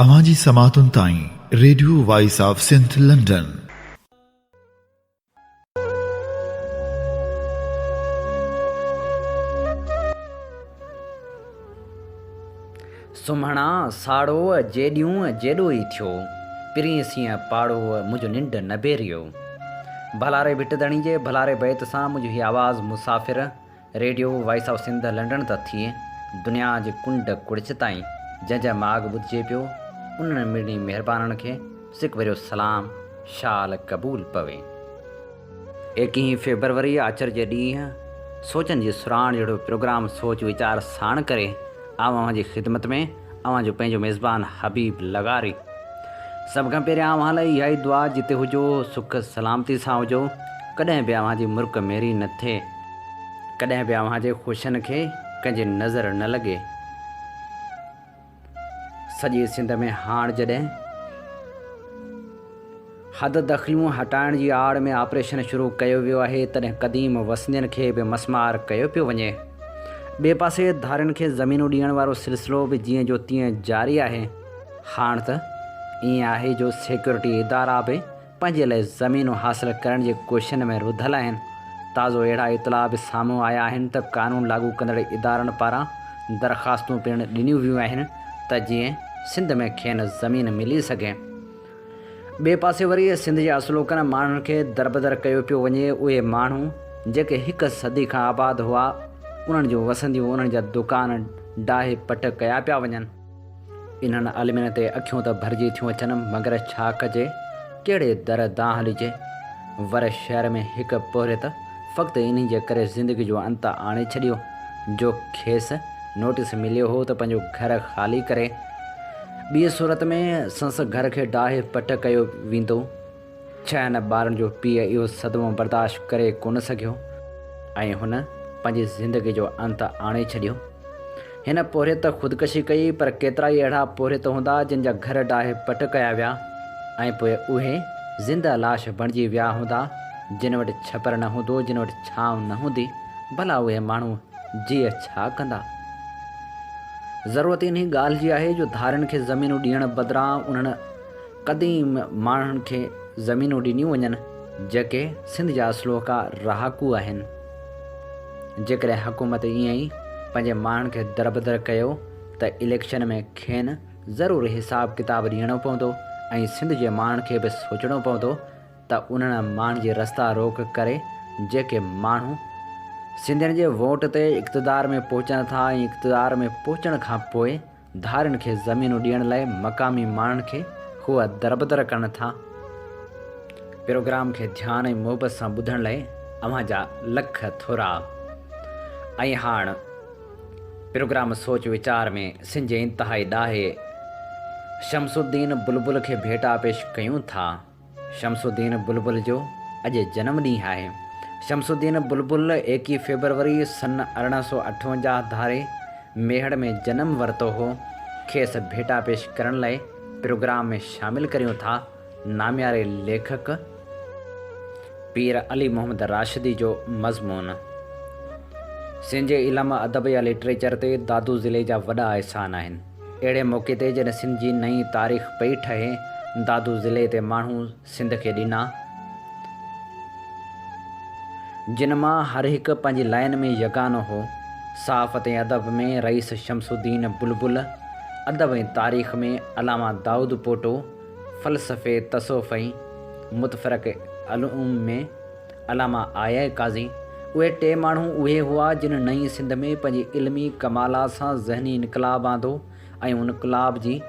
اوهان جي سماعتن تائين radio voice of Sindh London. سمهڻا ساڙوء جيڏيون جيڏو ئي ٿيو، پرين سينهن پاڙوء منهنجو ننڊ نبيريو. ڀلاري ڀٽ ڌڻي جي ڀلاري بيت سان منهنجو هي آواز مسافر، radio voice of Sindh London ته ٿئي دنيا جي ڪنڊ ڪڙڇ تائين جنهن جا ماڳ ٻڌجي پيو انهن مڙني مهربانن کي سڪ ڀريو سلام شال قبول پوي. ايڪيهين فيبروري آچر جي ڏينهن سوچن جي سرهاڻ جهڙو پروگرام سوچ ويچار ساڻ ڪري آئون اوهان جي خدمت ۾ اوهان جو پنهنجو ميزبان حبيب لغاري. سڀ کان پهريان اوهان لاء اها ئي دعا جتي هجو سک سلامتي سان هجو ڪڏهن به اوهان جي مرڪ ميري نه ٿئي. ڪڏهن به اوهان جي خوشين کي ڪنهن جي نظر نه لڳي. سڄي سنڌ ۾ هاڻ جڏهن. حد دخليون هٽائڻ جي آڙ ۾ آپريشن شروع ڪيو ويو آهي، تڏهن قديم وسندين کي به مسمار ڪيو پيو وڃي. ٻئي پاسي ڌارين کي زمينون ڏيڻ وارو سلسلو به جيئن جو تيئن جاري آهي. هاڻ ته ائين آهي جو سيڪيورٽي ادارا به پنهنجي لاء زمينون حاصل ڪرڻ جي ڪوششن ۾ رڌل آهن. تازو اهڙا اطلاع به سامهون آيا آهن ته قانون لاڳو ڪندڙ ادارن پاران درخواستون پڻ ڏنيون ويون آهن ته جيئن سنڌ ۾ کين زمين ملي سگهي. ٻئي پاسي وري سنڌ جي اصلوڪن ماڻهن کي دربدر ڪيو پيو وڃي، اهي ماڻهو جيڪي هڪ صدي کان آباد هئا، انهن جون وسنديون، انهن جا دڪان ڊاهي پٽ ڪيا پيا وڃن. انهن عالمين تي اکيون ته ڀرجي ٿيون اچن، مگر ڇا ڪجي، ڪهڙي در دانهن هلجي. ور شهر ۾ هڪ پورهيت فقط انهي جي ڪري زندگي جو انت آڻي ڇڏيو، جو کيس نوٽيس مليو هو ته پنهنجو گهر خالي ڪري، ٻيء صورت ۾ سنس گهر کي ڊاهي پٽ ڪيو ويندو. ڇهن ٻارن جو پيء اهو صدمو برداشت ڪري ڪونه سگهيو ۽ هن پنهنجي زندگي جو انت آڻي ڇڏيو. هن پورهيت خودڪشي ڪئي پر ڪيترائي اهڙا پورهيت هوندا جن جا گهر ڊاهي پٽ ڪيا ويا ۽ پوء اهي زنده لاش بڻجي ويا هوندا جن وٽ ڇپر نه هوندو جن وٽ ڇانو نه هوندي ڀلا اهي ماڻهو جيء ڇا ڪندا؟ ضرورت انهي ڳالهه جي آهي جو ڌارين کي زمينون ڏيڻ بدران انهن قديم ماڻهن کي زمينون ڏنيون وڃن جيڪي سنڌ جا اصلوڪا رهاڪو آهن. جيڪڏهن حڪومت ائين ئي پنهنجي ماڻهن کي دربدر ڪيو ته اليڪشن ۾ کين ضرور حساب ڪتاب ڏيڻو پوندو ۽ سنڌ جي ماڻهن کي به سوچڻو پوندو ته انهن ماڻهن جي رستا روڪ ڪري جيڪي ماڻهو سنڌين جي ووٽ تي اقتدار ۾ پهچن ٿا ۽ اقتدار ۾ پهچڻ کان پوء ڌارين کي زمينون ڏيڻ لاء مقامي ماڻهن کي هو دربدر ڪن ٿا. پروگرام کي ڌيان ۽ محبت سان ٻڌڻ لاء اوهان جا لک ٿورا. ۽ هاڻ پروگرام سوچ ويچار ۾ سنڌ جي انتهائي ڏاهي شمس الدين بلبل کي ڀيٽا پيش ڪيون ٿا. شمس الدين بلبل جو اڄ جنم ڏينهن آهي. شمس الدين بلبل ايڪيهه فيبروري سن ارڙهن سؤ اٺونجاهه ڌاري ميهڙ ۾ جنم ورتو هو. کيس ڀيٽا پيش ڪرڻ لاء پروگرام ۾ شامل ڪريون ٿا. نامياري ليکڪ پير علي محمد راشدي جو مضمون سنهنجي علم، ادب يا لٽريچر تي دادو ضلعي جا وڏا احسان آهن. اهڙي موقعي تي جڏهن سنڌ جي نئين تاريخ پئي ٺهي، دادو ضلعي تي ماڻهو سنڌ کي ڏنا، جن مان هر هڪ پنهنجي لائين ۾ يگانو هو، صحافت ۽ ادب ۾ رئيس شمس الدين بلبل، ادب ۽ تاريخ ۾ علامه دائود پوٽو، فلسفي، تصوف ۽ متفرقه علوم ۾. علامه آء اي قاضي، اهي ٽي ماڻهو اهي هئا جن نئين سنڌ ۾ پنهنجي علمي ڪمالات سان ذهني انقلاب آندو ۽ انقلاب جي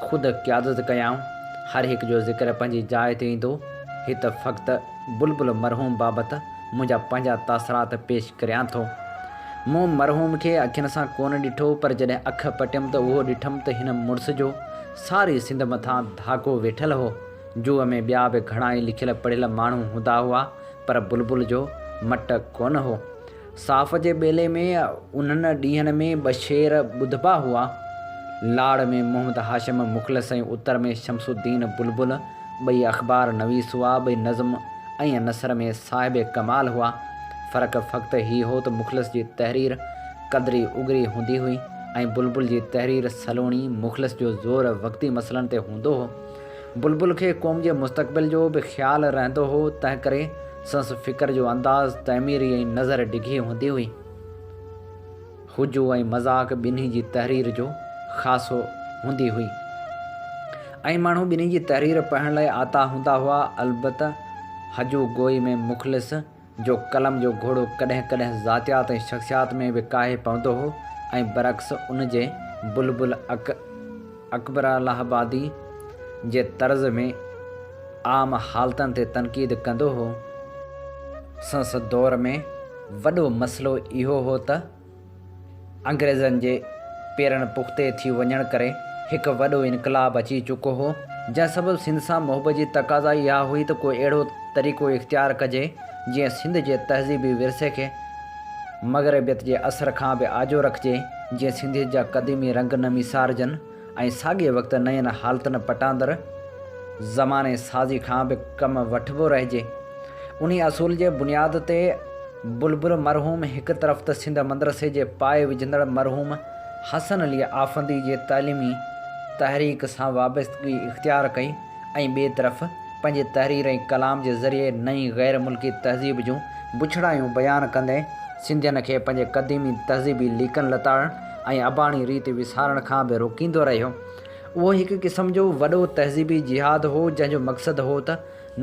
خود قيادت ڪيائون. هر هڪ جو ذڪر پنهنجي جاء تي ايندو. هت فقط بلبل مرحوم بابت منهنجا پنهنجا تاثرات پيش ڪريان ٿو. مون مرحوم کي اکين سان ڪونه ڏٺو پر جڏهن اک پٽيم ته اهو ڏٺم ته هن مڙس جو ساري سنڌ مٿان ڌاڪو ويٺل هو. جوء ۾ ٻيا به گهڻائي لکيل پڙهيل ماڻهو هوندا هئا، پر بلبل جو مٽ ڪونه هو. صاف جي ٻيلي ۾ انهن ڏينهن ۾ ٻه شعر ٻڌبا هئا. لاڙ ۾ محمد هاشم مخلص ۽ اتر ۾ شمس الدين بلبل ٻئي اخبار نويس هئا، ٻئي نظم ۽ نثر ۾ صاحب ڪمال هئا. فرق فقط هي هو ته مخلص جي تحرير قدري اگري هوندي هئي ۽ بلبل جي تحرير سلوڻي، مخلص جو زور وقتي مسئلن تي هوندو هو. بلبل کي قوم جي مستقبل جو به خيال رهندو هو، تنهنڪري سندس فڪر جو انداز تعميري ۽ نظر ڊگهي هوندي هئي. هجو ۽ مذاق ٻنهي جي تحرير جو خاصو هوندي هئي. ائين ماڻهو ٻنهي جي تحرير پڙهڻ لاء آتا هوندا هئا، البته هجو گوئي ۾ مخلص، جو قلم جو گهوڙو ڪڏهن ڪڏهن ذاتيات ۽ شخصيات ۾ به ڪاهي پوندو هو ۽ برعڪس ان جي بلبل اڪ اڪبرالهابادي جي طرز ۾ عام حالتن تي تنقيد ڪندو هو. سنس دور ۾ وڏو مسئلو اهو هو ته. انگريزن جي پيرن پختي ٿي وڃڻ ڪري هڪ وڏو انقلاب اچي چڪو هو، جنهن سبب سنڌ سان محبت جي تقاضا ئي اها هئي ته ڪو اهڙو طريقو اختيار ڪجي، جيئن سنڌ جي تهذيبي ورثي کي مغربيت جي اثر کان به آجو رکجي، جيئن سنڌيت جا قديمي رنگ نه ميسارجن. ۽ ساڳئي وقت نين حالتن پٽاندر زماني سازي کان به ڪم وٺبو رهجي. انهي اصول جي بنياد تي بلبل مرحوم هڪ طرف ته سنڌ مدرسي جي پايي وجهندڙ مرحوم حسن علي آفندي جي تعليمي تحريڪ سان وابستگي اختيار ڪئي ۽ ٻئي طرف پنهنجي تحرير ۽ ڪلام جي ذريعي نئين غير ملڪي تهذيب جون بڇڙايون بيان ڪندي سنڌين کي پنهنجي قديمي تهذيبي ليڪن لتاڙڻ ۽ اباڻي ريت وسارڻ کان به روڪيندو رهيو. اهو هڪ قسم جو وڏو تهذيبي جهاد هو، جنهن جو مقصد هو ته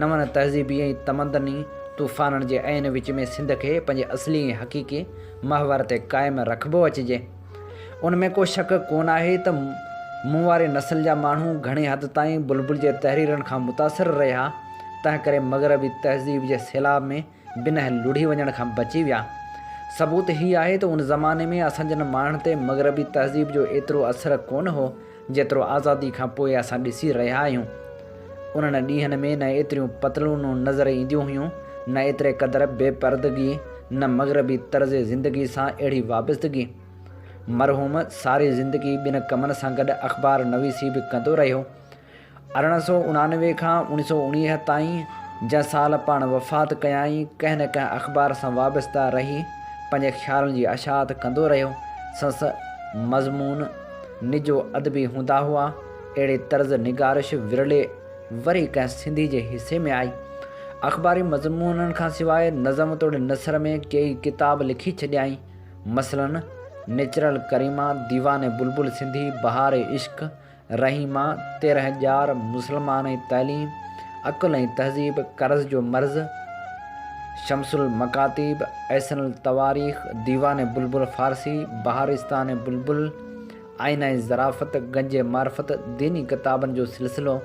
نون تهذيبي ۽ تمدني طوفانن جي عين وچ ۾ سنڌ کي پنهنجي اصلي ۽ حقيقي محور تي قائم رکبو اچجي. ان ۾ ڪو شڪ ڪونه آهي ته مون واري نسل جا ماڻهو گهڻي حد تائين بلبل جي تحريرن کان متاثر رهيا، تنهنڪري مغربي تهذيب جي سيلاب ۾ بنهه لڙهي وڃڻ کان بچي ويا. ثبوت هي آهي ته ان زماني ۾ اسان جن ماڻهن تي مغربي تهذيب جو ايترو اثر ڪونه هو، جيترو آزادي کان پوء اسان ڏسي رهيا آهيون. انهن ڏينهن ۾ نه ايتريون پتلونون نظر اينديون هيون، نه ايتري قدر بي پردگي، نه مغربي طرز زندگي سان اهڙي وابستگي. مرحوم ساري زندگي ٻن ڪمن سان گڏ اخبار نويسي به ڪندو رهيو. ارڙهن سؤ اڻانوي کان اوڻيهه سؤ اڻيهه تائين جنهن سال پاڻ وفات ڪيائين، ڪنهن نه ڪنهن اخبار سان وابسته رهي پنهنجي خيالن جي اشاعت ڪندو رهيو. سنس مضمون نجو ادبي هوندا هئا. اهڙي طرز نگارش ورلي وري ڪنهن سنڌي جي حصي ۾ آئي. اخباري مضمونن کان سواء نظم توڙي نثر ۾ ڪيئي ڪتاب لکي ڇڏيائين. مثلاً نيچرل ڪريما، ديوان بلبل سنڌي، بهار عشق، رحيما، تيرهن ڄار، مسلمان ۽ تعليم، عقل ۽ تهذيب، قرض جو مرض، شمس المڪاتيب، احسن التواريخ، ديوان بلبل فارسي، بهارستان بلبل، آئينه ظرافت، گنج معرفت، ديني ڪتابن جو سلسلو،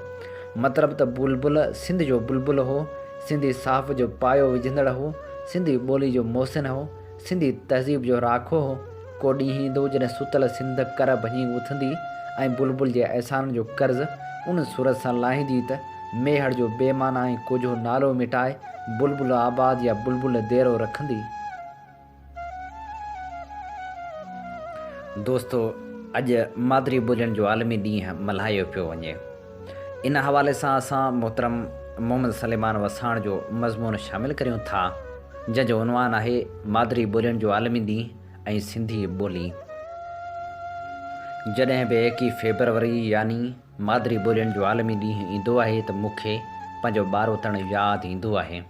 مطلب ته بلبل سنڌ جو بلبل هو، سنڌي صحافت جو پايو وجهندڙ هو، سنڌي ٻولي جو محسن هو. سنڌي تهذيب جو راکو هو. ڪو ڏينهن ايندو جڏهن ستل سنڌ ڪر ڀڃي اٿندي ۽ بلبل جي احسانن جو قرض ان صورت سان لاهيندي ته ميهڙ جو بي معنيٰ ۽ ڪوجهو نالو مٽائي بلبل آباد يا بلبل ديرو رکندي. دوستو! اڄ مادري ٻولين جو عالمي ڏينهن ملهايو پيو وڃي. ان حوالي سان اسان محترم محمد سليمان وساڻ جو مضمون شامل ڪريون ٿا، جنهن جو عنوان آهي مادري ٻولين جو عالمي ڏينهن ۽ سنڌي ٻولي. جڏهن به ايڪيهه فيبروري يعني مادري ٻولين جو عالمي ڏينهن ايندو آهي ته مون کي پنهنجو ٻاروتڻ ياد ايندو آهي.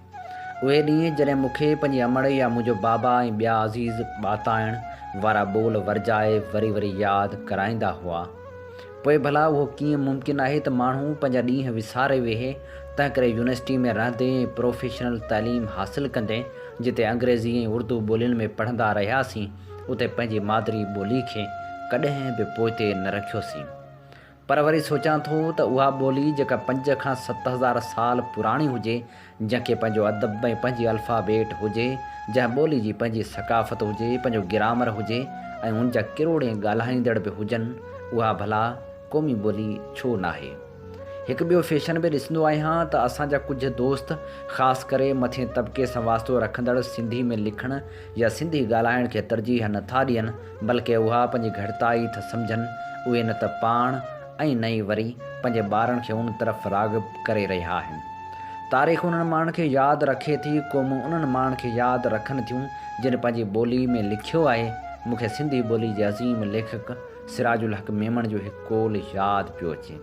اهي ڏينهن جڏهن مون کي پنهنجي امڙ يا منهنجو بابا ۽ ٻيا عزيز ٻاتائڻ وارا ٻول ورجائي وري وري ياد ڪرائيندا هئا. پوء ڀلا اهو ڪيئن ممڪن آهي ته ماڻهو پنهنجا ڏينهن وساري ويهي، تنهنڪري يونيورسٽي ۾ رهندي ۽ پروفيشنل تعليم حاصل ڪندي جتي انگريزي ۽ اردو ٻولين ۾ پڙهندا رهياسين اتي پنهنجي مادري ٻولي کي ڪڏهن به پوئتي نه رکيوسين. پر وري سوچان ٿو ته اها ٻولي جيڪا پنج کان ست هزار سال پراڻي هجي، جنهن کي پنهنجو ادب ۽ پنهنجي الفابيٽ هجي، جنهن ٻولي جي پنهنجي ثقافت هجي، پنهنجو گرامر هجي ۽ ان جا ڪروڙين ڳالهائيندڙ به هجن، اها ڀلا قومي ٻولي ڇو ناهي؟ هڪ ٻيو فيشن به ڏسندو آهيان ته اسان جا ڪجهه دوست خاص ڪري مٿين طبقي سان واسطو رکندڙ سنڌي ۾ لکڻ يا سنڌي ڳالهائڻ کي ترجيح نٿا ڏين، بلڪه اها پنهنجي گهٽتائي ٿا سمجهن، اهي نه ته پاڻ ۽ نه ئي وري پنهنجي ٻارن کي ان طرف راغب ڪري رهيا آهن. تاريخ انهن ماڻهن کي ياد رکي ٿي، قومون انهن ماڻهن کي ياد رکن ٿيون، جن پنهنجي ٻولي ۾ لکيو آهي. مون کي سنڌي ٻولي جي عظيم ليکڪ سراج الحق ميمڻ جو هڪ قول ياد پيو اچي.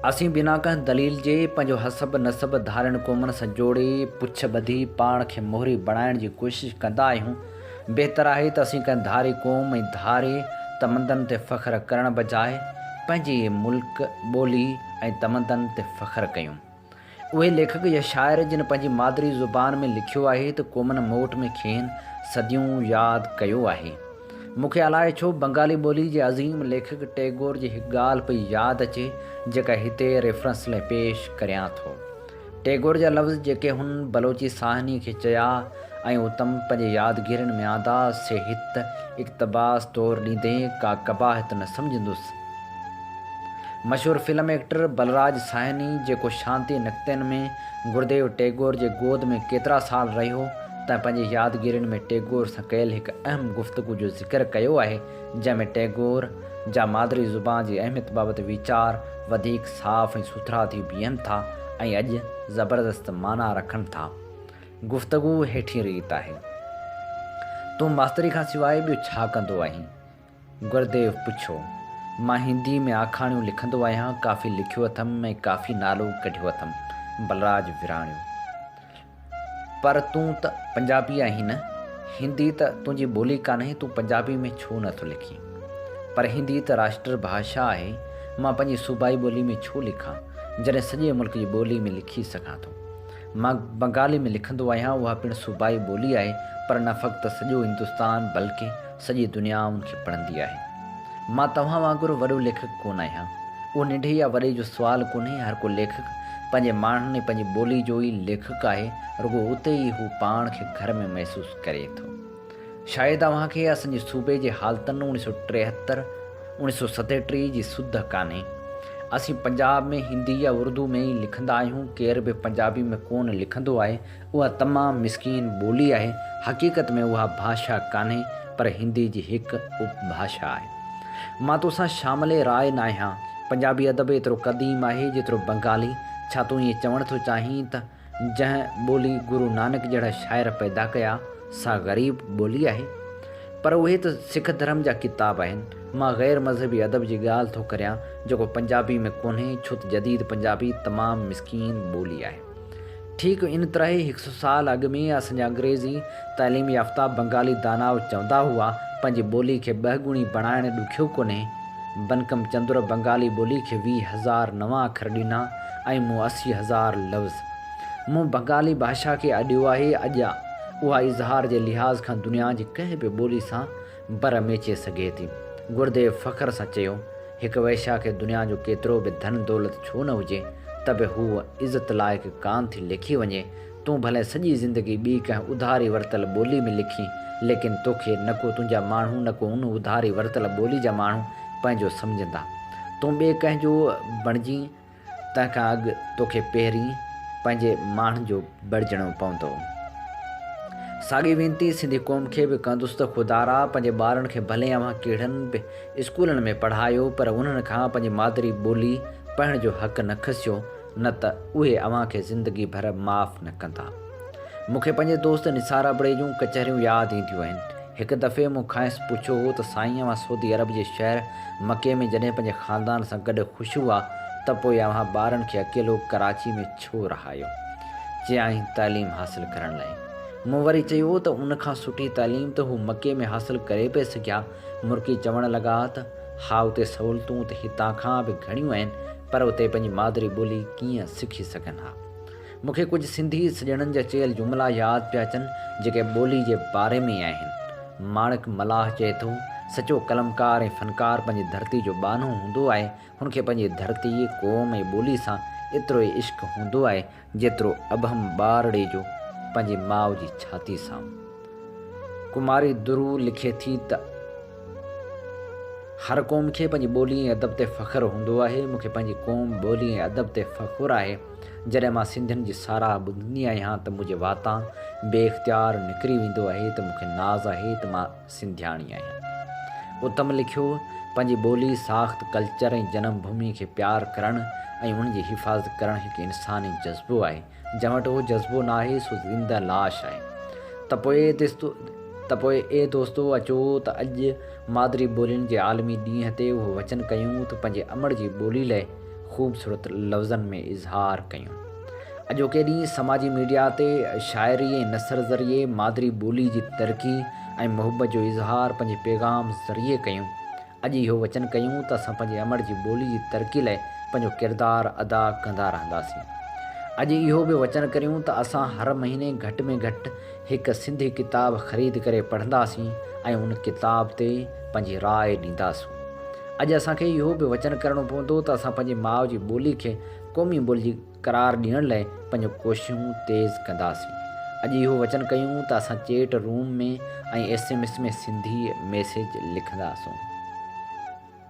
اسين بنا ڪنهن دليل جي پنهنجو حسب نسب ڌارين قومن سان جوڙي پڇ ٻڌي پاڻ کي مهري بڻائڻ جي ڪوشش ڪندا آهيون. بهتر آهي ته اسين ڪنهن ڌاري قوم ۽ ڌاري تمدن تي فخر ڪرڻ بجاء پنهنجي ملڪ، ٻولي ۽ تمدن تي فخر ڪيون. اهي ليکڪ يا شاعر جن پنهنجي مادري زبان ۾ لکيو آهي ته قومن موٽ ۾ کين صديون ياد ڪيو آهي. مون کي الائي ڇو بنگالي ٻولي جي عظيم ليکڪ ٽيگور جي هڪ ڳالهه پئي ياد اچي جيڪا هتي ريفرنس لئه پيش ڪريان ٿو. ٽيگور جا لفظ جيڪي هن بلوچي ساهني کي چيا ۽ اتم پنهنجي يادگيرين ۾ آندا سي هت اقتباس طور ڏيندي ڪا قباحت نه سمجهندس. مشهور فلم ايڪٽر بلراج ساهني جيڪو شانتي نڪتين ۾ گرديو ٽيگور جي گود ۾ ڪيترا سال رهيو تنهن پنهنجي يادگيرين ۾ ٽيگور سان ڪيل هڪ اهم گفتگو جو ذڪر ڪيو آهي جنهن ۾ ٽيگور جا مادري زبان جي اهميت بابت ويچار وڌيڪ صاف ۽ سٿرا ٿي بيهن ٿا ۽ اڄ زبردست معنيٰ رکن ٿا گفتگو هيٺين ريت آهي تون ماستري کان سواء ٻيو ڇا ڪندو آهين؟ گرديو پڇيو، مان هنديء ۾ آکاڻيون لکندو آهيان، ڪافي لکيو اٿم ۽ ڪافي نالو ڪڍيو اٿم. بلراج وراڻيو، پر تون ته پنجابي آهين نه؟ هندي ته تنهنجي ٻولي ڪانهي، تون پنجابي ۾ ڇو نه ٿو لکين؟ پر هندي ته راشٽر ڀاشا آهي، مان پنهنجي صوبائي ٻولي ۾ ڇو لکان، جڏهن سڄي ملڪ جي ٻولي ۾ لکي سگهان ٿو؟ مان بنگالي ۾ لکندو آهيان، اها پڻ صوبائي ٻولي آهي، پر نه فقط سڄو هندستان، بلڪه سڄي دنيا ان کي پڙهندي آهي. مان توهان وانگر وڏو ليکڪ ڪونه آهيان. اهو ننڍي يا وڏي جو سوال ڪونهي، هر ڪو ليکڪ پنهنجي ماڻهن ۽ پنهنجي ٻولي جو ئي ليکڪ آهي، رڳو اتي ئي هو پاڻ کي گهر ۾ محسوس ڪري ٿو. شايد اوهان کي اسنجي صوبي جي حالتن اوڻي سؤ ٽيهتر، اوڻي سؤ ستيٽيهه جي سڌ ڪانهي. اسين پنجاب ۾ هندي يا اردو ۾ ئي لکندا آهيون، ڪير به پنجابي ۾ ڪونه لکنڌو آهي، اها تمام مسڪين ٻولي آهي، حقيقت ۾ اها ڀاشا ڪانهي پر هندي جي هڪ اپ ڀاشا آهي. مان تو سان شامل راء ناهيان، پنجابي ادب ايترو قديم آهي جيترو بنگالي، ڇا تون ائين چوڻ ٿو چاهين ته جنهن ٻولي گرو نانڪ جهڙا شاعر پيدا ڪيا سا غريب ٻولي آهي؟ پر اهي ته سک ڌرم جا ڪتاب آهن، مان غير مذهبي ادب جي ڳالهه ٿو ڪريان جيڪو پنجابي ۾ ڪونهي ڇوته جديد پنجابي تمام مسڪين ٻولي آهي. ٺيڪ ان طرح ئي هڪ سو سال اڳ ۾ اسان جا انگريزي تعليم يافته بنگالي داناء چوندا هئا، پنهنجي ٻولي کي ٻه ڳڻي بڻائڻ ڏکيو ڪونهي. بنڪم چندر بنگالي ٻولي کي ويهه هزار نوان اکر ڏنا ۽ مون اسي هزار لفظ. مون بنگالي ڀاشا کي اڏيو آهي، اڄ اها اظهار جي لحاظ کان دنيا جي ڪنهن به ٻولي سان بر ميچي سگهي ٿي. گرديو فخر سان چيو، هڪ وئشيا کي دنيا جو ڪيترو به ڌن دولت ڇو نه هجي، ته به هوء عزت لائق ڪانه ٿي ليکي وڃي. تون ڀلئين سڄي زندگي ٻي ڪنهن اڌاري ورتل ٻولي ۾ لکين، ليڪن توکي نڪو تنهنجا ماڻهو نڪو ان اڌاري ورتل ٻولي جا ماڻهو پنهنجو سمجهندا. تون ٻئي ڪنهن جو بڻجين، تنهن کان اڳ توکي پهرين پنهنجي ماڻهن جو بڻجڻو پوندو. ساڳي وينتي سنڌي قوم کي به ڪندس ته خدارا پنهنجي ٻارن کي ڀلي اوهان ڪهڙن به اسڪولن ۾ پڙهايو پر انهن کان پنهنجي مادري ٻولي پڙهڻ جو حق نه کسيو نه ته اهي اوهان کي زندگي ڀر معاف نه ڪندا. مونکي پنهنجي دوست نثار ابڙي جون ڪچهريون ياد اينديون آهن. هڪ دفعي مون کانئس پڇيو هو ته سائين اوهان سعودي عرب جي شهر مڪي ۾ جڏهن پنهنجي خاندان سان گڏ خوش هئا ته پوء اوهان ٻارن کي اڪيلو ڪراچي ۾ ڇو رهايو؟ چيائين تعليم حاصل ڪرڻ لاء. مون وري چيو ته ان کان سٺي تعليم ته هو مڪي ۾ حاصل ڪري پئي سگهيا. مرڪي چوڻ لڳا ته ها اتي سهولتون ته هتان کان به گهڻيون آهن پر اتي پنهنجي مادري ٻولي ڪيئن سکي سگهن ها. مون کي ڪجهه سنڌي سڄڻن جا چيل جملا ياد پيا اچن، جيڪي ٻولي جي باري ۾ ئي آهن. ماڻڪ ملاح چئي ٿو، سچو قلمڪار ۽ فنڪار پنهنجي ڌرتي جو ٻانهو هوندو آهي، هن کي پنهنجي ڌرتي، قوم ۽ ٻولي سان ايترو ئي عشق هوندو آهي، جيترو ابهم ٻارڙي جو پنهنجي ماء جي ڇاتي سان. ڪماري درو لکي ٿي ته، هر قوم کي پنهنجي ٻولي ۽ ادب تي فخر هوندو آهي، مون کي پنهنجي قوم، ٻولي ۽ ادب تي فخر آهي. جڏهن مان سنڌين جي ساراهه ٻڌندي آهيان ته منهنجي واتان بي اختيار نڪري ويندو آهي ته مون کي ناز آهي ته مان سنڌياڻي آهيان. اتم لکيو، پنهنجي ٻولي، ساخت، ڪلچر ۽ جنم ڀومي کي پيار ڪرڻ ۽ ان جي حفاظت ڪرڻ هڪ انساني جذبو آهي، جنهن وٽ اهو جذبو ناهي سو زنده لاش آهي. ته پوء ته پوء اي دوستو اچو ته اڄ مادري ٻولين جي عالمي ڏينهن تي اهو وچن ڪيون ته پنهنجي امڙ جي ٻولي لئه خوبصورت لفظن ۾ اظهار ڪيون. اڄوڪي ڏينهن سماجي ميڊيا تي شاعري ۽ نثر ذريعي مادري ٻولي جي ترقي ۽ محبت جو اظهار پنهنجي پيغام ذريعي ڪيون. اڄ اهو وچن ڪيون ته اسان پنهنجي امڙ جي ٻولي جي ترقي لاء پنهنجو ڪردار ادا ڪندا رهنداسين. اڄ اهو به وچن ڪريون ته اسان هر مهيني گهٽ ۾ گهٽ هڪ سنڌي ڪتاب خريد ڪري پڙهنداسين ۽ ان ڪتاب تي پنهنجي راء ڏينداسون. اڄ اسان کي اهو به وچن ڪرڻو پوندو ته اسان پنهنجي ماء جي ٻولي کي قومي ٻولي قرار ڏيڻ لاء پنهنجون ڪوششون تيز ڪنداسين. اڄ اهو وچن ڪيون ته اسان chat room ۾ ۽ S M S ۾ Sindhi message لکنداسون.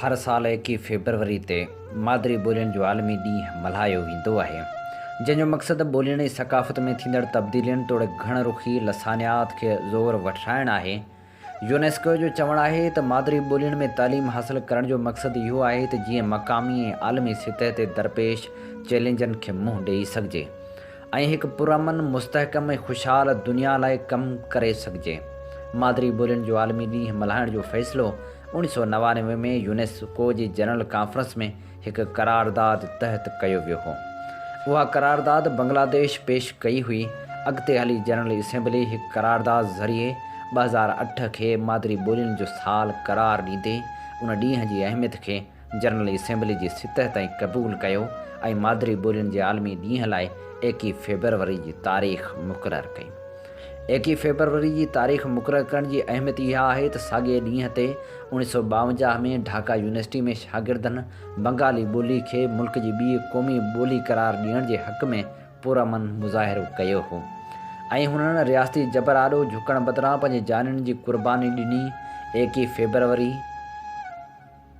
هر سال ايڪيهه فيبروري تي مادري ٻولين جو عالمي ڏينهن ملهايو ويندو آهي، جنهن جو مقصد ٻولين ۽ ثقافت ۾ ٿيندڙ تبديلين توڙي گهڻ رخي لسانيات کي زور وٺرائڻ آهي. يونيسڪو جو چوڻ آهي ته مادري ٻولين ۾ تعليم حاصل ڪرڻ جو مقصد اهو آهي ته جيئن مقامي ۽ عالمي سطح تي درپيش چئلينجن کي منهن ڏئي سگهجي ۽ هڪ پرامن، مستحڪم ۽ خوشحال دنيا لاء ڪم ڪري سگهجي. مادري ٻولين جو عالمي ڏينهن ملهائڻ جو فيصلو اڻ سؤ نوانوي ۾ يونيسڪو جي جنرل ڪانفرنس ۾ هڪ قرارداد تحت ڪيو ويو هو. اها قرارداد بنگلاديش پيش ڪئي هئي. اڳتي هلي جنرل اسيمبلي هڪ قرارداد ذريعي ٻه هزار اٺ کي مادري ٻولين جو سال قرار ڏيندي ان ڏينهن جي اهميت کي جنرل اسيمبلي جي سطح تائين قبول ڪيو ۽ مادري ٻولين جي عالمي ڏينهن لاء ايڪيهه فيبروري جي تاريخ مقرر ڪئي. ايڪيهه فيبروري جي تاريخ مقرر ڪرڻ جي اهميت اها آهي ته ساڳئي ڏينهن تي اوڻيهه سؤ ٻاونجاهه ۾ ڍاڪا يونيورسٽي ۾ شاگردن بنگالي ٻولي کي ملڪ جي ٻيء قومي ٻولي قرار ڏيڻ جي حق ۾ پرامن مظاهرو ڪيو هو ۽ هنن رياستي جبر آڏو جهڪڻ بدران پنهنجي جانين جي قرباني ڏني ايڪيهه فيبروري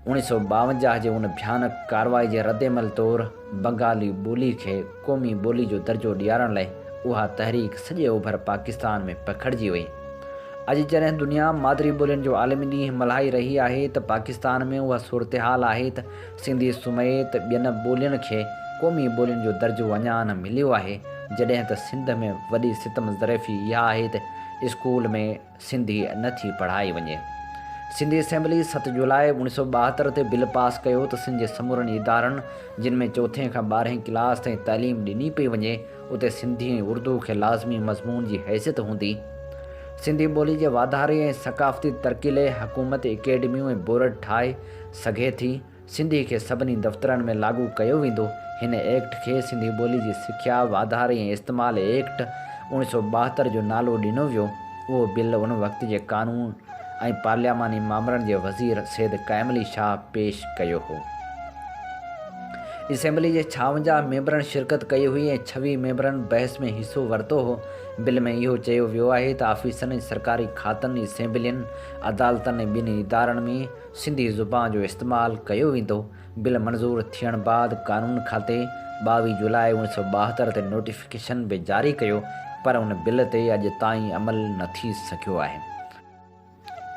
اڻيهه سؤ ٻاونجاهه جي ان ڀيانڪ ڪارروائي جي ردعمل طور بنگالي ٻولي کي قومي ٻولي جو درجو ڏيارڻ لاء اها تحريڪ سڄي اوڀر پاڪستان ۾ پکڙجي وئي. اڄ جڏهن دنيا مادري ٻولين جو عالمي ڏينهن ملهائي رهي آهي ته پاڪستان ۾ اها صورتحال آهي ته سنڌي سميت ٻين ٻولين کي قومي ٻولين جو درجو اڃا نه مليو آهي جڏهن ته سنڌ ۾ وڏي ستم ظرفي اها آهي ته اسڪول ۾ سنڌي نه ٿي پڙهائي وڃي. سنڌي اسيمبلي ست جولاء اوڻيهه سؤ ٻاهتر تي بل پاس ڪيو ته سنڌ جي سمورن ادارن جن ۾ چوٿين کان ٻارهين ڪلاس تائين تعليم ڏني پئي وڃي اتي سنڌي ۽ اردو کي لازمي مضمون جي حيثيت هوندي. سنڌي ٻولي جي واڌاري ۽ ثقافتي ترقي لئي حڪومت اڪيڊميون ۽ بورڊ ٺاهي سگهي ٿي. سنڌي کي سڀني دفترن ۾ لاڳو ڪيو ويندو. هن ايڪٽ کي سنڌي ٻولي جي سکيا، واڌاري ۽ استعمال ايڪٽ، اوڻيھ سؤ ٻاهتر جو نالو ڏنو ويو. اهو بل ان وقت جي قانون ۽ پارلياماني مامرن جي وزير سيد قائم علي شاهه پيش ڪيو هو. اسيمبلي جي ڇاونجاهه ميمبرن شرڪت ڪئي هئي ۽ ڇويھ ميمبرن بحث ۾ حصو ورتو هو. بل ۾ اهو چيو ويو آهي ته آفيسن ۽ سرڪاري کاتن، اسيمبلين، عدالتن ۽ ٻين ادارن ۾، سنڌي زبان جو استعمال ڪيو ويندو، بل منظور ٿيڻ بعد قانون کاتي ٻاويهه جولاء اوڻيهه سؤ ٻاهتر تي نوٽيفڪيشن به جاري ڪيو پر ان بل تي اڄ تائين عمل نه ٿي سگهيو آهي.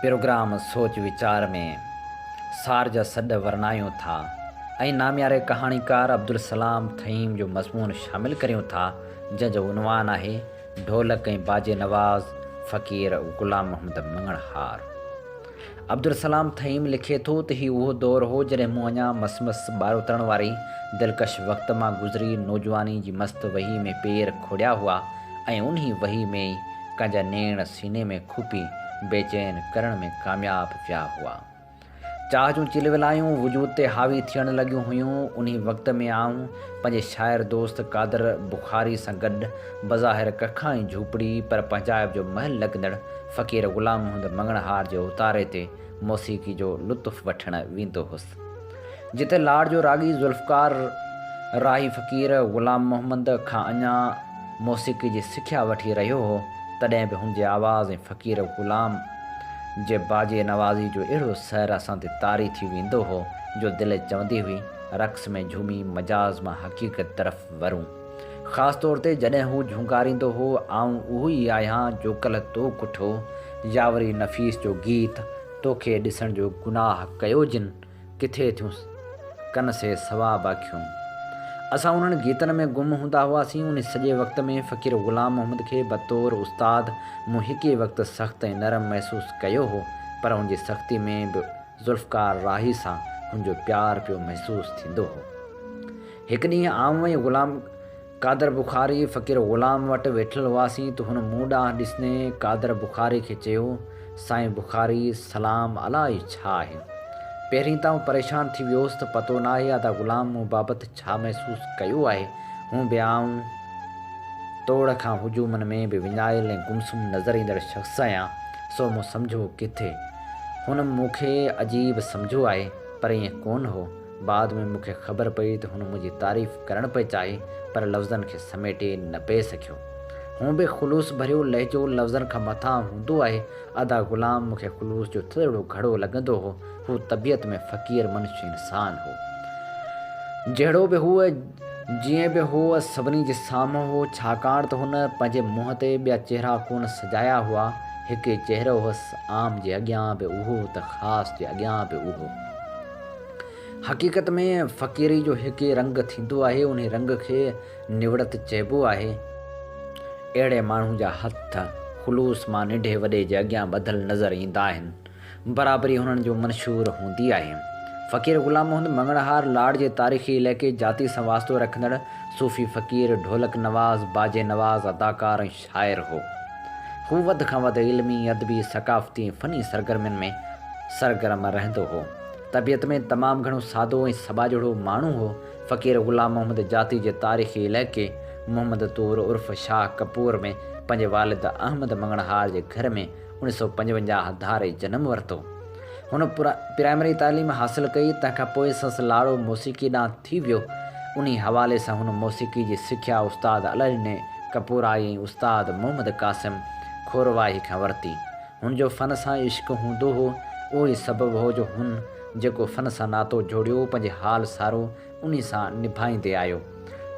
پروگرام سوچ ويچار ۾ سار جا سڏ ورنايون ٿا ۽ نامياري ڪهاڻيڪار عبدالسلام ٿهيم جو مضمون شامل ڪريون ٿا جنهن جو عنوان آهي ڍولڪ ۽ باجي نواز فقير غلام محمد مڱڻهار. عبدالسلام ٿهيم لکي ٿو ته هي اهو دور هو جڏهن مون اڃا مس مس ٻارهوتڻ واري دلڪش وقت مان گذري نوجواني جي مست وهي ۾ پير کوڙيا هئا ۽ انهي وهي ۾ ئي ڪنهنجا نيڻ سيني ۾ کوپي بيچين ڪرڻ ۾ ڪامياب پيا هئا. چاهه جون چلولايون وجود تي حاوي ٿيڻ لڳيون هيون. انهي وقت ۾ آئون پنهنجي شاعر دوست قادر بخاري سان گڏ بظاهر ڪکائين جهوپڙي پر پنهنجائپ جو محل لڳندڙ فقير غلام محمد مڱڻهار جي اوتاري تي موسيقي جو لطف وٺڻ ويندو هوس. جتي لاڙ جو راڳي ذوالفقار راهي فقير غلام محمد کان اڃا موسيقي جي سکيا وٺي رهيو هو، تڏهن به هن جي آواز ۽ فقير غلام جي باجي نوازي جو اهڙو سحر اسان تي طاري ٿي ويندو هو، جو دل چوندي هئي، رقص ۾ جهومي مجاز مان حقيقت طرف ورون. خاص طور تي جڏهن هو جهونڪاريندو هو، آئون اهو ئي آهيان جو ڪلهه تو ڪٺو، يا وري نفيس جو گيت، توکي ڏسڻ جو گناهه ڪيو جن، ڪٿي ٿيون ڪن سي ثواب اکيون. اسان انهن گيتن ۾ گم هوندا هئاسين، انهي سڄي وقت ۾ فقير غلام محمد کي بطور استاد مون هڪي وقت سخت ۽ نرم محسوس ڪيو هو، پر هن جي سختي ۾ به ذوالفقار راهي سان هن جو پيار پيو محسوس ٿيندو هو. هڪ ڏينهن آئون ۽ غلام قادر بخاري فقير غلام وٽ ويٺل هئاسين ته هن مون ڏانهن ڏسندي قادر بخاري کي چيو، سائين بخاري سلام الا هي ڇا آهي؟ پهرين ته آئون پريشان ٿي ويو هوس ته پتو ناهي ادا غلام مون بابت ڇا محسوس ڪيو آهي، هونء به آئون توڙ کان هجومن ۾ به وڃايل ۽ گمسم نظر ايندڙ شخص آهيان، سو مون سمجهو ڪٿي هن مون کي عجيب سمجهيو آهي، پر ائين ڪونه هو. بعد ۾ مون کي خبر پئي ته هن منهنجي تعريف ڪرڻ پئي چاهي پر لفظن کي سميٽي نه پئي سگهيو. هونء به خلوص ڀريو لهجو لفظن کان مٿان هوندو آهي. ادا غلام مون کي خلوص جو ٿڌڙو گهڙو لڳندو هو. هو طبيعت ۾ فقير منش انسان هو. جهڙو به هو، جيئن به هو سڀني جي سامهون هو ڇاڪاڻ ته هن پنهنجي منهن تي ٻيا چهرا ڪونه سجايا هئا. هڪ ئي چهرو هوس عام جي اڳيان به اهو ته خاص جي اڳيان به اهو. حقيقت ۾ فقيري جو هڪ ئي رنگ ٿيندو آهي، انهي رنگ کي نوڙت چئبو آهي. اهڙي ماڻهو جا هٿ خلوص مان ننڍي وڏي جي اڳيان ٻڌل نظر ايندا آهن. برابري هنن جو منشور هوندي آهي. فقير غلام محمد مڱڻهار لاڙ جي تاريخي علائقي جاتي سان واسطو رکندڙ صوفي فقير، ڍولڪ نواز، باجي نواز، اداڪار ۽ شاعر هو. هو وڌ کان وڌ علمي، ادبي، ثقافتي ۽ فني سرگرمين ۾ سرگرم رهندو هو. طبيعت ۾ تمام گهڻو سادو ۽ سٻاجهڙو ماڻهو هو. فقير غلام محمد جاتي جي تاريخي علائقي محمد طور عرف شاهه ڪپور ۾ پنهنجي والد احمد مڱڻهار جي گهر ۾ اڻ سؤ پنجونجاهه ڌاري جنم ورتو. هن پرائمري تعليم حاصل ڪئي، تنهن کان پوء سنس لاڙو موسيقي ڏانهن ٿي ويو. انهي حوالي سان هن موسيقي جي سکيا استاد الهڏني ڪپورائي ۽ استاد محمد قاسم کورواهي کان ورتي. هن جو فن سان عشق هوندو هو، اهو ئي سبب هو جو هن جيڪو فن سان ناتو جوڙيو، پنهنجي حال سارو انهي سان نڀائيندي آيو.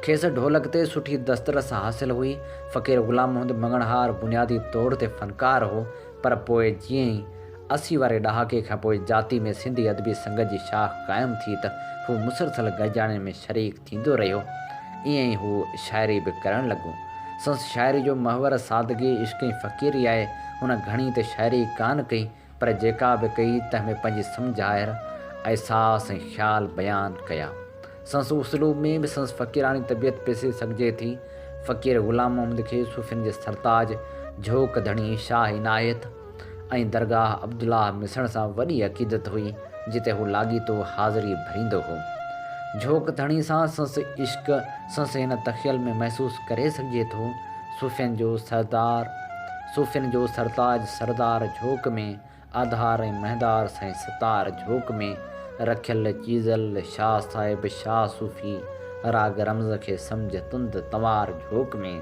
کيس ڍولڪ تي سٺي دسترس حاصل هئي. فقير غلام محمد مڱڻهار بنيادي طور تي فنڪار هو، پر پوء جيئن ئي اسي واري ڏهاڪي کان پوء جاتي ۾ سنڌي ادبي سنگت جي شاخ قائم ٿي ته هو مسلسل گڏجاڻين ۾ شريڪ ٿيندو رهيو. ائين ئي هو شاعري به ڪرڻ لڳو. سنس شاعري جو محور سادگي، عشق ۽ فقيري آهي. هن گهڻي ته شاعري ڪانه ڪئي، پر جيڪا به ڪئي تنهن ۾ پنهنجي سمجهائر، احساس ۽ خيال بيان ڪيا. سندس اسلوب ۾ به سندس فقيراڻي طبيعت پسي سگهجي ٿي. فقير غلام محمد کي صوفين جي سرتاج، جهوڪ ڌڻي شاهه عنايت ۽ درگاهه عبدالله مسڻ سان وڏي عقيدت هئي، جتي هو لاڳيتو حاضري ڀريندو هو. جهوڪ ڌڻي سان سندس عشق سندس هن تخيل ۾ محسوس ڪري سگهجي ٿو. صوفين جو سردار صوفين جو سرتاج سردار جهوڪ ۾ آڌار ۽ مهندار سائين ستار جهوڪ ۾ رکيل چيزل شاهه صاحب شاهه صوفي راڳ رمز کي سمجهه تند تنوار جهوڪ ۾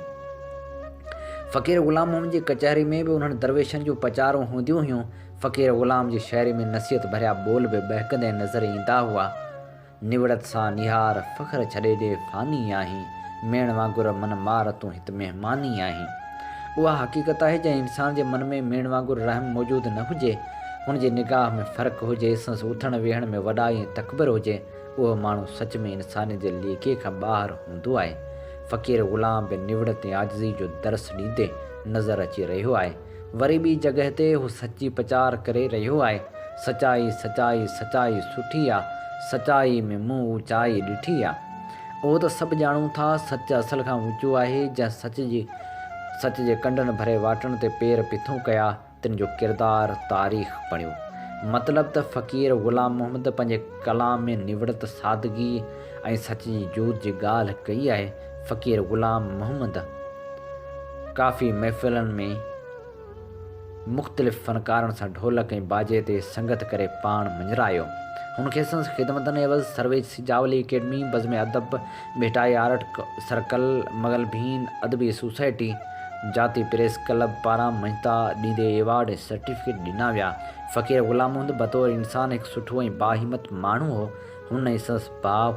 فقير غلام محمد جي ڪچهري ۾ به انهن درويشن جون پچارون هونديون هيون. فقير غلام جي شاعري ۾ نصيحت ڀريا ٻول به ٻهڪندي نظر ايندا هئا. نوڙت سان نهار فخر ڇڏي ڏي فاني آهين ميڻ وانگر من مار تون هت مهماني آهين اها حقيقت آهي جنهن انسان جي من ۾ ميڻ وانگر رحم موجود نه هجي ان جي نگاهه ۾ فرق هجي سنس اٿڻ ويهڻ ۾ وڏائي ۽ تڪبر هجي اهو ماڻهو سچ ۾ انسانيت جي ليڪي کان ٻاهر هوندو آهي فقير غلام به نوڙت ۽ عاجزي جو درس ڏيندي نظر اچي رهيو آهي وري ٻي جڳهه تي هو سچي پچار ڪري رهيو آهي، سچائي، سچائي، سچائي سٺي آ، سچائي ۾ مون اوچائي ڏٺي آ. اهو ته سڀ ڄاڻون ٿا، سچ اصل کان اوچو آهي، جنهن سچ جي سچ جي ڪنڊن ڀري واٽن تي پير پٿون ڪيا، تن جو ڪردار تاريخ بڻيو. مطلب ته فقير غلام محمد پنهنجي ڪلام ۾ نوڙت، سادگي ۽ سچ جي جوت جي ڳالهه ڪئي آهي. فقير غلام محمد ڪافي محفلن ۾ مختلف فنڪارن سان ڍولڪ ۽ باجي تي سنگت ڪري پاڻ مڃرايو. هن کي سندس خدمتن عيوض سرويچ Sujawali academy, Bazm Adab, Bhitai art circle, Mughal ڀين ادبي سوسائٽي، جاتي پريس ڪلب پاران مڃتا ڏيندي ايوارڊ ۽ سرٽيفڪيٽ ڏنا ويا. فقير غلام محمد بطور انسان هڪ سٺو ۽ باهمت ماڻهو هو. هن ۽ سندس ڀاء،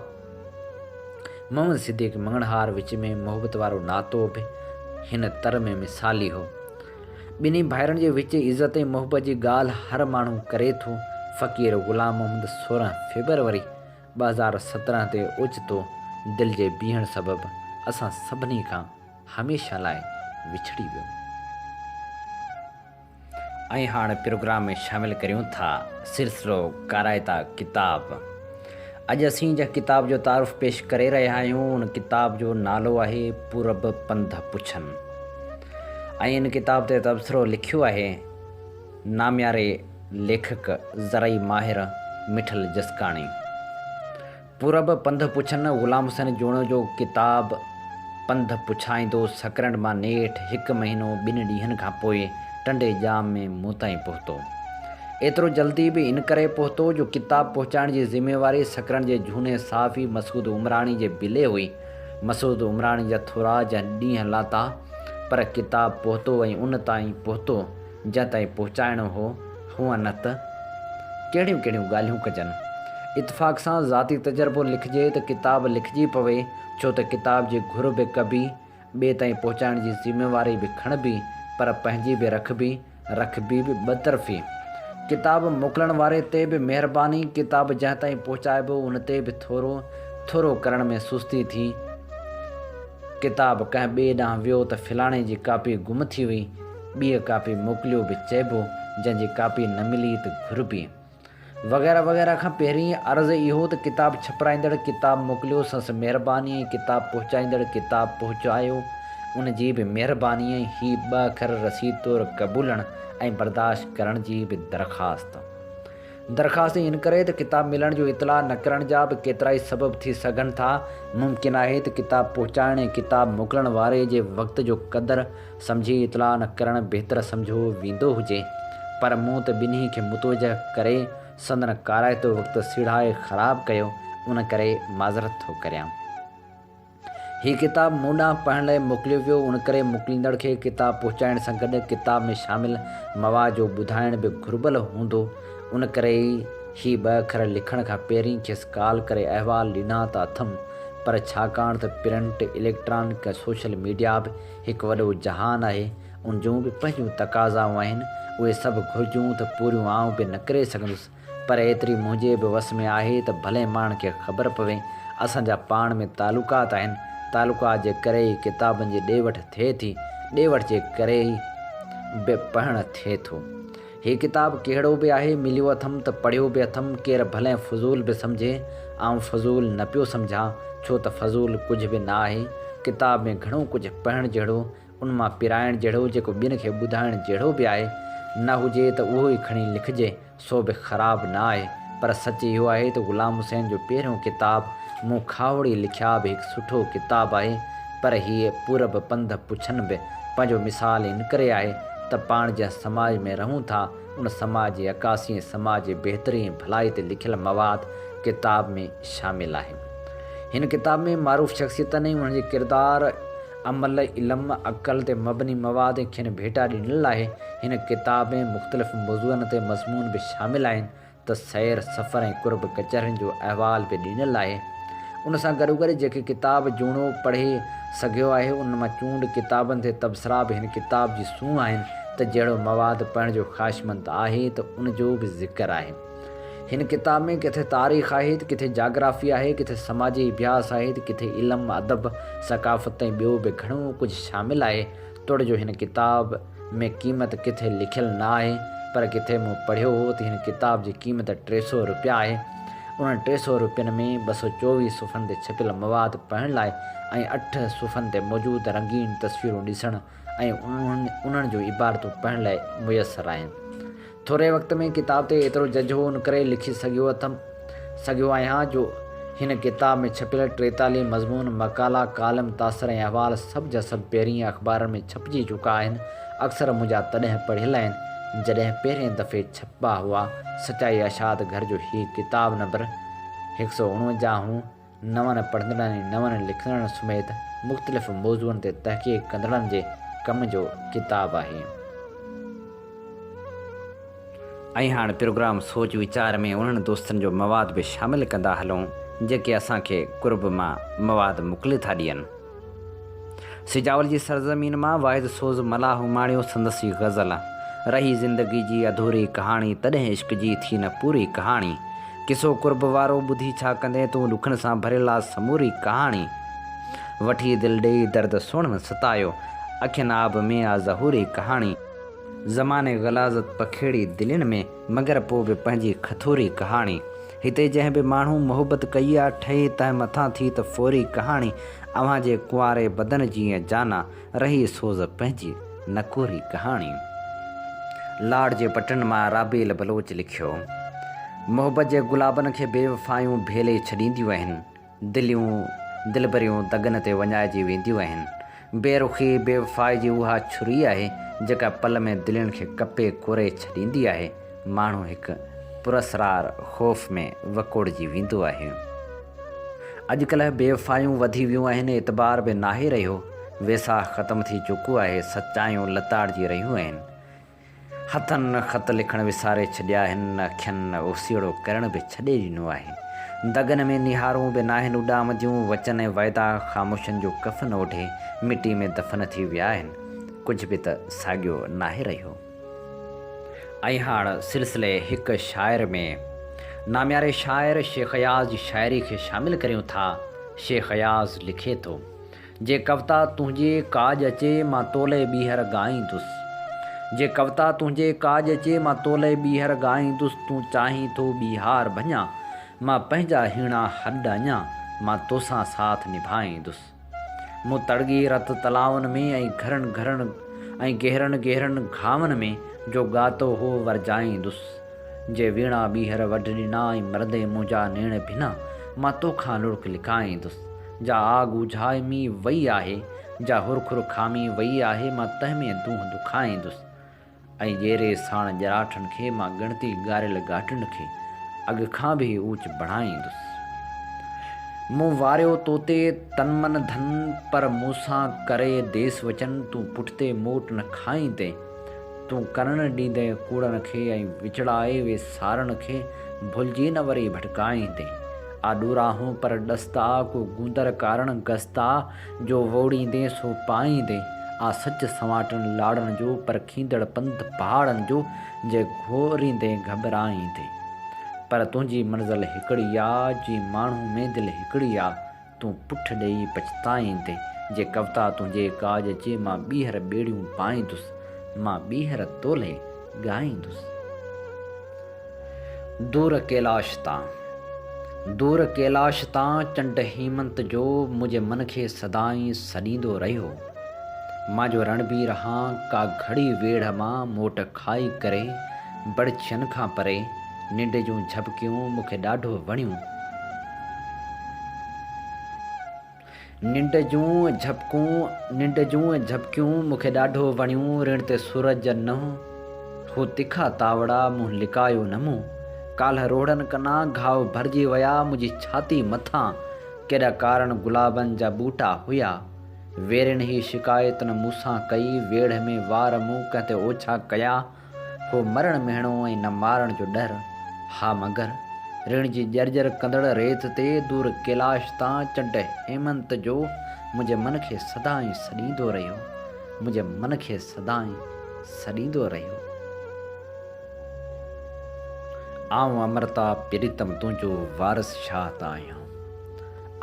محمد صديق مڱڻهار وچ ۾ محبت وارو ناتو به هن تر ۾ مثالي هو. ٻنهي ڀائرن جي وچ عزت ۽ محبت جي ڳالهه هر ماڻهو ڪري ٿو. فقير غلام محمد سورهن فيبروري ٻه هزار سترهن تي اوچتو دل جي بيهڻ سبب اسان سڀني کان هميشه لاء وڇڙي ويو. ۽ هاڻ پروگرام ۾ شامل ڪريون ٿا سلسلو ڪارائتا ڪتاب. اڄ اسين جنهن ڪتاب جو تعارف پيش ڪري رهيا آهيون ان ڪتاب جو نالو آهي پورب پنڌ پڇن ۽ ان ڪتاب تي تبصرو لکيو آهي نامياري ليکڪ زرعي ماهر مٺل جسڪاڻي. پورب پنڌ پڇن غلام حسين جوڻيو جو ڪتاب پنڌ پڇائيندو سڪرنڊ مان نيٺ هڪ مهينو ٻن ڏينهن کان پوء ٽنڊي ڄام ۾ مون تائين پهتو. ايترو جلدي به ان ڪري پهتو جو ڪتاب پهچائڻ جي ذميواري سڪرنڊ جي جهوني صحافي مسعود عمراڻي جي بلي هئي. مسعود عمراڻي جا ٿورا جا ڏينهن لاٿا پر ڪتاب پهتو ۽ ان تائين پهتو. جنهن تائين پهچائڻو هو، هونء نه ته ڪهڙيون ڪهڙيون ڳالهيون ڪجن. اتفاق سان ذاتي تجربو لکجي ته ڪتاب لکجي پوي، ڇو ته ڪتاب جي گهر به ڪبي، ٻئي تائين پهچائڻ جي ذميواري به کڻبي، پر پنهنجي به رکبي، رکبي به ٻه طرفي. ڪتاب موڪلڻ واري تي به مهرباني، ڪتاب جنهن تائين پهچائبو، ان تي به ٿورو ٿورو ڪرڻ ۾ سستي ٿي. ڪتاب ڪنهن ٻئي ڏانهن ويو ته فلاڻي جي ڪاپي گم ٿي وئي، ٻيء ڪاپي موڪليو به چئبو، جنهن جي ڪاپي نه ملي ته گهربي. وغيره وغيره کان پهرين عرض اهو ته ڪتاب ڇپرائيندڙ ڪتاب موڪليو سنس مهرباني ۽ ڪتاب پهچائيندڙ ڪتاب پهچايو ان جي به مهرباني ۽ هي ٻه اکر رسيد طور قبولڻ ۽ برداشت ڪرڻ جي به درخواست. درخواست ۽ انڪري ته ڪتاب ملڻ جو اطلاع نه ڪرڻ جا به ڪيترائي سبب ٿي سگهن ٿا. ممڪن آهي ته ڪتاب پهچائڻ ۽ ڪتاب موڪلڻ واري جي وقت جو قدر سمجهي اطلاع نه ڪرڻ بهتر سمجهيو ويندو هجي. پر مون ته ٻنهي کي متوجهه ڪري سندن ڪارائتو وقت سيڙهائي خراب ڪيو، ان ڪري معذرت ٿو ڪريان. هي ڪتاب مون ڏانهن پڙهڻ لاء موڪليو ويو، ان ڪري موڪليندڙ کي ڪتاب پهچائڻ سان گڏ ڪتاب ۾ شامل مواد جو ٻڌائڻ به گهربل هوندو، ان ڪري ئي هي ٻه اکر لکڻ کان پهرين کيس ڪال ڪري احوال ڏنا ته اٿم، پر ڇاڪاڻ ته پرنٽ، اليڪٽرانڪ ۽ سوشل ميڊيا به هڪ وڏو جهان آهي، ان جون به پنهنجون تقاضائون آهن، اهي سڀ گهرجون ته پوريون آئون به نه ڪري سگهندس، پر ايتري منهنجي به وس ۾ آهي ته ڀلي ماڻهن کي خبر پوي. اسان جا پاڻ ۾ تعلقات آهن. تعلقات جي ڪري ئي ڪتابن جي ڏي وٺ ٿئي ٿي. ڏي وٺ جي ڪري ئي به پڙهڻ ٿئي ٿو. هي ڪتاب ڪهڙو به آهي، مليو اٿم ته پڙهيو به اٿم. ڪير ڀلئين فضول به سمجهي، آئون فضول نه پيو سمجهان، ڇو ته فضول ڪجهه به نه آهي. ڪتاب ۾ گهڻو ڪجهه پڙهڻ جهڙو ان مان پرائڻ جهڙو جيڪو ٻين کي ٻڌائڻ جهڙو به آهي نه هجي ته اهو ئي کڻي لکجي سو به خراب نه آهي پر سچ اهو آهي ته غلام حسين جو پهريون ڪتاب مون کاهوڙي لکيا به هڪ سٺو ڪتاب آهي پر هيء پورب پنڌ پڇن به پنهنجو مثال انڪري آهي ته پاڻ جنهن سماج ۾ رهون ٿا ان سماج جي عڪاسي ۽ سماج جي بهتري ۽ ڀلائي تي لکيل مواد ڪتاب ۾ شامل آهي هن ڪتاب ۾ معروف شخصيتن ۽ انهن جي ڪردار عمل، علم، عقل تي مبني مواد ۽ کين ڀيٽا ڏنل آهي. هن ڪتاب ۾ مختلف موضوعن تي مضمون به شامل آهن ته سير سفر ۽ قرب ڪچهرين جو احوال به ڏنل آهي. ان سان گڏوگڏ جيڪي ڪتاب جوڻو پڙهي سگهيو آهي انهن مان چونڊ ڪتابن تي تبصرا به هن ڪتاب جي سونهن آهن ته جهڙو مواد پڙهڻ جو خواهشمند آهي ته ان جو به ذڪر آهي. هن ڪتاب ۾ ڪٿي تاريخ آهي ته ڪٿي جاگرافي آهي، ڪٿي سماجي اڀياس آهي ته ڪٿي علم، ادب، ثقافت ۽ ٻيو به گهڻو ڪجهه شامل آهي، توڙي جو هن ڪتاب ۾ قيمت ڪٿي لکيل نه آهي، پر ڪٿي مون پڙهيو هو ته هن ڪتاب جي قيمت ٽي سؤ روپيا آهي. انهن ٽي سؤ روپين ۾ ٻه سؤ چوويهه صفحن تي ڇپيل مواد پڙهڻ لاء ۽ اٺ صفحن تي موجود رنگين تصويرون ڏسڻ ۽ انهن جون عبارتون پڙهڻ لاء ميسر آهن. ٿوري وقت ۾ ڪتاب تي ايترو جج هو ان ڪري لکي سگهيو اٿم سگهيو آهيان جو هن ڪتاب ۾ ڇپيل ٽيتاليهه مضمون، مقالا، ڪالم، تاثر ۽ احوال سڀ جا سڀ پهرينء اخبارن ۾ ڇپجي چڪا آهن، اڪثر منهنجا تڏهن پڙهيل آهن جڏهن پهرين دفعي ڇپبا هئا، سچائي اشاعت گهر جو هي ڪتاب نمبر هڪ سؤ اڻونجاهه هون، نون پڙهندڙن ۽ نون لکندڙن سميت مختلف موضوعن تي تحقيق ڪندڙن جي ڪم جو ڪتاب آهي. ۽ هاڻ پروگرام سوچ ويچار ۾ انهن دوستن جو مواد به شامل ڪندا هلون جيڪي اسان کي قرب مان مواد موڪلي ٿا ڏين. سجاول جي سرزمين مان واحد سوز ملاح اماڻيو سندس ئي غزل رهي زندگي جي اڌوري ڪهاڻي تڏهن عشق جي ٿي نه پوري ڪهاڻي قصو قرب وارو ٻڌي ڇا ڪندين تون ڏکن سان ڀريل آ سموري ڪهاڻي وٺي دل ڏيئي درد سهڻن ستايو اکين آب ۾ آ ظهوري ڪهاڻي زماني غلاظت پکيڙي دلين ۾. مگر پوء به پنهنجي کٿوري ڪهاڻي. هتي جنهن به ماڻهو محبت ڪئي آ، ٺهي تنهن مٿان ٿي ته ڦوري ڪهاڻي. اوهان جي ڪنواري بدن جيئن جانا، رهي سوز پنهنجي نڪوري ڪهاڻي. لاڙ جي پٽن مان رابيل بلوچ لکيو. محبت جي گلابن کي بي وفايون ڀيلي ڇڏينديون آهن. دليون دلبريون دڳن تي وڃائجي وينديون آهن. بي رخي بي وفائي جي اها ڇري آهي جيڪا پل ۾ دلين کي ڪپي ڪوري ڇڏيندي آهي. ماڻهو هڪ پراسرار خوف ۾ وڪوڙجي ويندو آهي. اڄڪلهه بي وفايون وڌي ويون آهن، اعتبار به ناهي رهيو، ويساهه ختم ٿي چڪو آهي، سچايون لتاڙجي رهيون آهن. هٿن خط لکڻ وساري ڇڏيا آهن، اکين اوسيئڙو ڪرڻ به ڇڏي ڏنو آهي. دڳن ۾ نهارون به ناهن اڏام جون، وچن ۽ وعدا خاموشن جو ڪفن اوڍي مٽي ۾ دفن ٿي ويا آهن، ڪجهه به ته ساڳيو ناهي رهيو. ائين هاڻ سلسلي هڪ شاعر ۾ نامياري شاعر شيخ اياز جي شاعري کي شامل ڪريون ٿا. شيخ اياز لکي ٿو. جي ڪوتا تنهنجي ڪاڄ اچي مان تولئي ٻيهر ڳائيندس جي ڪوتا تنهنجي ڪاڄ اچي مان تولئي ٻيهر ڳائيندس تون چاهين ٿو ٻيهار ڀڃان مان پنهنجا هيڻا هڏ اڃان مان توسان ساٿ نڀائيندس مون تڙڳي رت تلائن ۾ ۽ گهرن گهرن ۽ گهرن گهرن گهاون ۾ جو ڳاتو هو ورجائيندس جي ويڻا ٻيهر وڍ ڏنا ۽ مرندي منهنجا نيڻ ڀنا مان توکان لڙڪ لڪائيندس. جا آگ اجهائي مي وئي آهي، جا هرخور کامي وئي آهي، مان تنهن ۾ دونهه دکائيندس. ۽ ڄيري ساڻ ڄراٺن کي، مان ڳڻتي ڳاريل ڳاٽن کي، اڳ کان به اوچ بڻائيندس. مون واريو توتي تن من ڌن، پر مون سان ڪري ديس وچن، تون پٺتي موٽ نه کائيندين، تون ڪنڻ ڏيندين ڪوڙن کي، ۽ وچڙائي ويسارن کي، ڀلجي نه وري ڀٽڪائيندين. آڏو راهون پر ڏستا، ڪو گوندر ڪارڻ گستا، جو ووڙيندين سو پائيندين، آ سچ سنواٽن لاڙن جو، پرکيندڙ پنڌ پهاڙن جو، جي گهوريندين گهٻرائيندين. پر تنهنجي منزل هڪڙي آ، جي ماڻهو ۾ دل هڪڙي آ، تون پٺ ڏيئي پڇتائيندين، جي ڪوتا تنهنجي ڪاڄ اچي، مان ٻيهر ٻيڙيون پائيندس، مان ٻيهر تولئي ڳائيندس. دور ڪيلاش تان، دور ڪيلاش تان چنڊ هيمنت جو منهنجي من کي سدائين سڏيندو رهيو. مان جو رڻبير هان ڪا گهڙي ويڙهه مان موٽ کائي ڪري بڙڇين کان پري ننڊ جون جهٻڪيون مون کي ڏاڍو وڻيون. ننڊ جون جهپڪون، ننڊ جون جهپڪيون مون کي ڏاڍو وڻيون رڻ تي سورج جا ننهن هو تکا تاوڙا منهن لڪايو نه مون ڪالهه روهڙن ڪنان گهاء ڀرجي ويا منهنجي ڇاتي مٿان ڪيڏا ڪارڻ گلابن جا ٻوٽا هيا ويرين هي شڪايت نه مون سان ڪئي ويڙهه ۾ وار مون ڪنهن تي اوڇا ڪيا هو مرڻ مهڻو ۽ نه مارڻ جو ڏر. ها مگر، ريڻ جي ڄرڄر ڪندڙ ريت تي دور ڪيلاش تان چنڊ هيمنت جو منهنجي من کي سدائين سڏيندو رهيو. منهنجي من کي سدائين سڏيندو رهيو. آئون امرتا پريتم تنهنجو وارث شاهه ته آهيان.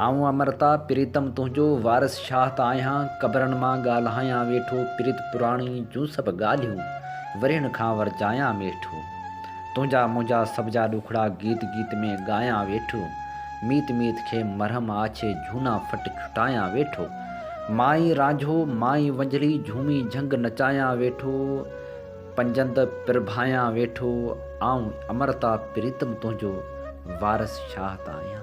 آئون امرتا پريتم تنهنجو وارث شاهه ته آهيان قبرن مان ڳالهايان ويٺو پريت پراڻي جون سڀ ڳالهيون ورهين کان ورجايان ويٺو تنهنجا منهنجا سڀ جا ڏکڙا گيت گيت ۾ ڳايان ويٺو ميت ميت کي مرهم آڇي جهونا ڦٽ ڇٽايان ويٺو مائي رانجهو مائي ونجهڙي جهومي جهنگ نچايان ويٺو پنجند پرڀايان ويٺو آئون امرتا پريتم تنهنجو وارث شاهه ته آهيان.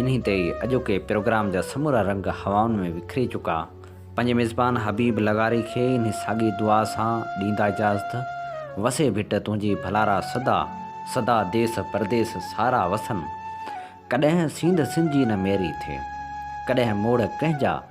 انهي تي ئي اڄوڪي پروگرام جا سمورا رنگ هوائن ۾ وکري چڪا. پنهنجي ميزبان حبيب لغاري کي انهي ساڳي دعا سان ڏيندا اجازت. وسي ڀٽ تنهنجي ڀلارا سدا، سدا ديس پرديس سارا وسن. ڪڏهن سينڌ سنجي نه ميري ٿئي. ڪڏهن موڙ ڪنهن جا.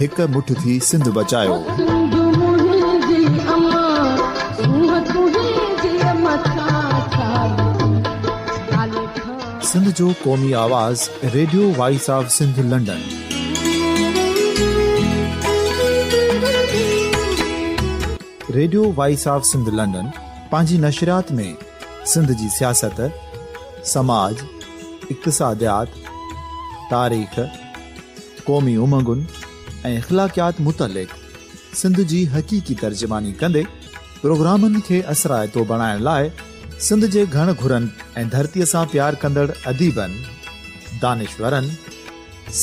هڪ مٺ ٿي سنڌ بچايوسنڌ جو قومي آواز radio voice of Sindh London radio voice of Sindh London پنهنجي نشريات ۾ سنڌ جي سياست سماج اقتصاديات تاريخ قومي امنگن ۽ اخلاقيات متعلق سنڌ جي حقيقي ترجماني ڪندي پروگرامن کي اثرائتو بڻائڻ لاء سنڌ جي گهڻ گهرن ۽ ڌرتيء سان پيار ڪندڙ اديبن، دانشورن،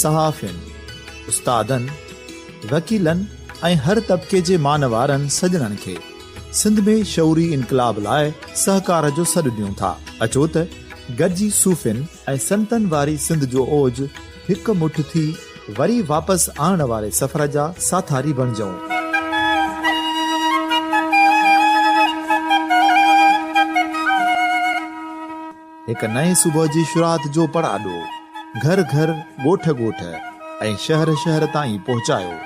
صحافين، استادن، وڪيلن ۽ هر طبقي جي مان وارن سڄڻن کي سنڌ ۾ شعوري انقلاب لاء سهڪار جو سڏ ڏيون ٿا. اچو ته گڏجي صوفين ۽ سنتن واري سنڌ جو اوج، هڪ مٺ ٿي وري واپس آڻڻ واري سفر جا ساٿاري بڻجون. هڪ نئين صبح جي شروعات جو پڙاڏو گهر گهر، ڳوٺ ڳوٺ ۽ شهر شهر تائين پهچايو.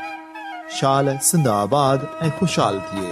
شال سنڌ آباد ۽ خوشحال ٿئي.